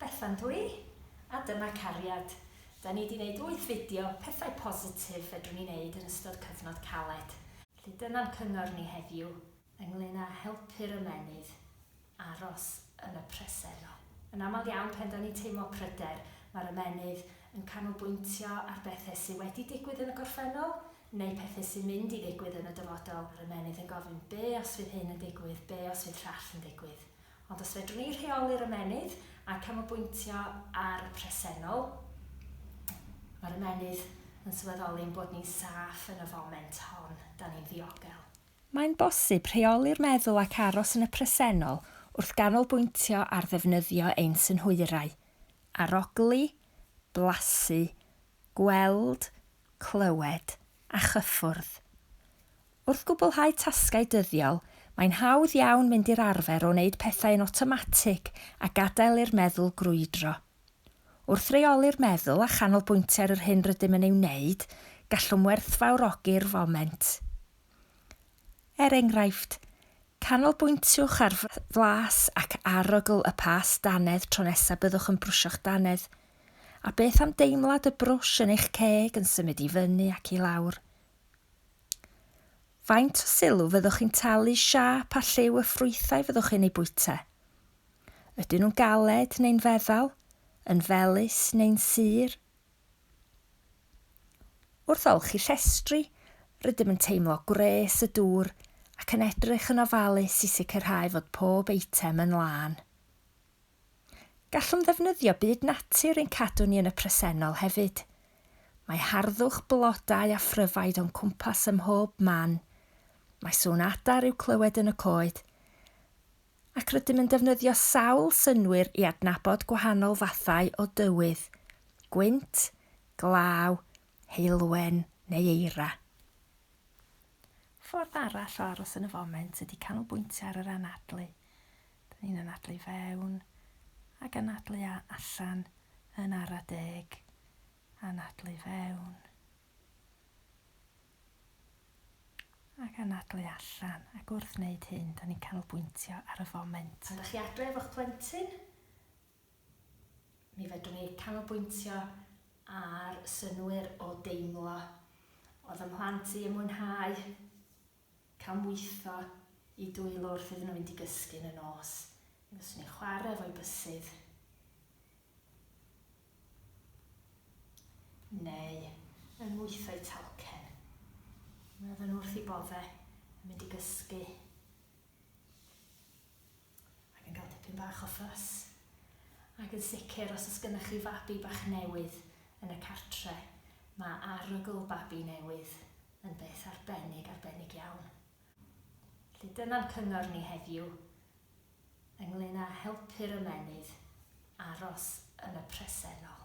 Bethan dw i, a dyma cariad. Da ni di neud wyth fideo, pethau positif fedrwn ni neud yn ystod cyfnod caled. Felly dyna'n cyngor ni heddiw ynglŷn â helpu'r ymennydd aros yn y presennol. Yn aml iawn pan da ni'n teimlo pryder, mae'r ymennydd yn canolbwyntio ar bethau sy wedi digwydd yn y gorffennol, neu pethau sy'n mynd i ddigwydd yn y dyfodol, mae'r ymennydd yn gofyn 'be os fydd hyn yn digwydd, be os fydd llall yn digwydd? Ond os fedrwn ni rheoli'r ymennydd a canolbwyntio ar y presennol, mae'r ymennydd yn sylweddoli ein bod ni'n saff yn y foment hon, 'da ni'n ddiogel. Mae'n bosib rheoli'r meddwl ac aros yn y presennol wrth ganolbwyntio ar ddefnyddio ein synhwyrau, arogli, blasu, gweld, clywed a chyffwrdd. Wrth gwblhau tasgau dyddiol, mae'n hawdd iawn mynd i'r arfer o wneud pethau yn awtomatig a gadael i'r meddwl grwydro. Wrth reoli'r meddwl a chanolbwyntio ar yr hyn rydym yn ei wneud, gallwn werthfawrogi'r foment. Er enghraifft, canolbwyntiwch ar flas ac arogl y past dannedd tro nesaf byddwch yn brwsio'ch dannedd. A beth am deimlad y brwsh yn eich ceg yn symud i fyny ac i lawr? Faint o sylw fyddwch chi'n talu siâp a lliw y ffrwythau fyddwch chi'n eu bwyta? Ydyn nhw'n galed neu'n feddal, yn felys neu'n sur? Wrth olchi llestri, rydym yn teimlo gwres y dŵr ac yn edrych yn ofalus i sicrhau fod pob eitem yn lân. Gallwn ddefnyddio byd natur i'n cadw ni yn y presennol hefyd. Mae harddwch blodau a phryfaid o'n cwmpas ym mhob man, mae sŵn adar i'w clywed yn y coed, ac rydym yn defnyddio sawl synnwyr i adnabod gwahanol fathau o dywydd, gwynt, glaw, heulwen neu eira. Ffordd arall o aros yn y foment ydy canolbwyntio ar yr anadlu. Dyn ni'n anadlu fewn ac anadlu allan yn ara deg. Anadlu fewn ac anadlu allan ac wrth wneud hyn dyn ni'n canolbwyntio ar y foment. Pan dych chi adref o'ch plentyn, Mi fedrwn i canolbwyntio ar synnwyr o deimlo. Oedd y mhlant i yn mwynhau cael mwytho i dwylo wrth iddyn nhw fynd i gysgu yn y nos. Mi fyswn i'n chwarae efo'i bysydd. Neu yn mwytho'i talcen. Mi oedden nhw wrth i bodde yn mynd i gysgu. ac yn cael tipyn bach o ffys. Ac yn sicr, os oes gennych chi fabi bach newydd yn y cartre', mae arogl babi newydd yn beth arbennig, arbennig iawn. Felly dyna'n cyngor ni heddiw ynglŷn â helpu'r ymennydd aros yn y presennol.